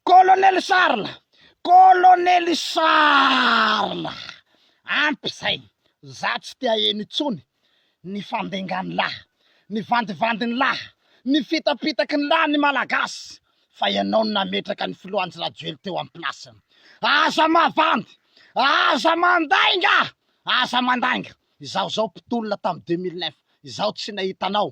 Colonel Charles! Colonel Charles! Ampy izay! Za tsy te haheno intsony ny fandengan'ny lahy, ny vandivandin'ny lahy, ny fitapitaky ny lahy ny Malagasy fa ianao no nametraka ny Filohanjy Rajoely teo am place-ny. Aza mavandy! Aza mandainga! Aza mandainga! Izaho izao mpitolona tam deux mille neuf, izaho tsy nahita anao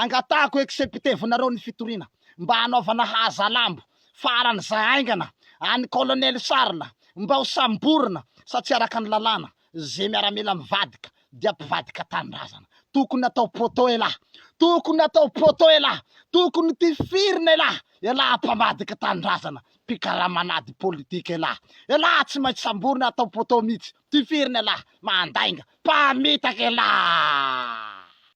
Angatahako executevenareo ny fitoriana mba hanaovana hazalambo faran'izay haingana an'i Colonel Charles mba ho samborina satsia araka ny lalàna ze miaramila mivadika dia mpivadika tanindrazana. Tokony atao poteau elah! Tokony atao poteau elah! Tokony tifirina elah! Elah mpamadika tanindrazana, mpikaraman'ady politika elah! Elah tsy maintsy samborina atao poteau mitsy, tifirina elah! Mandainga, mpamitaka elah!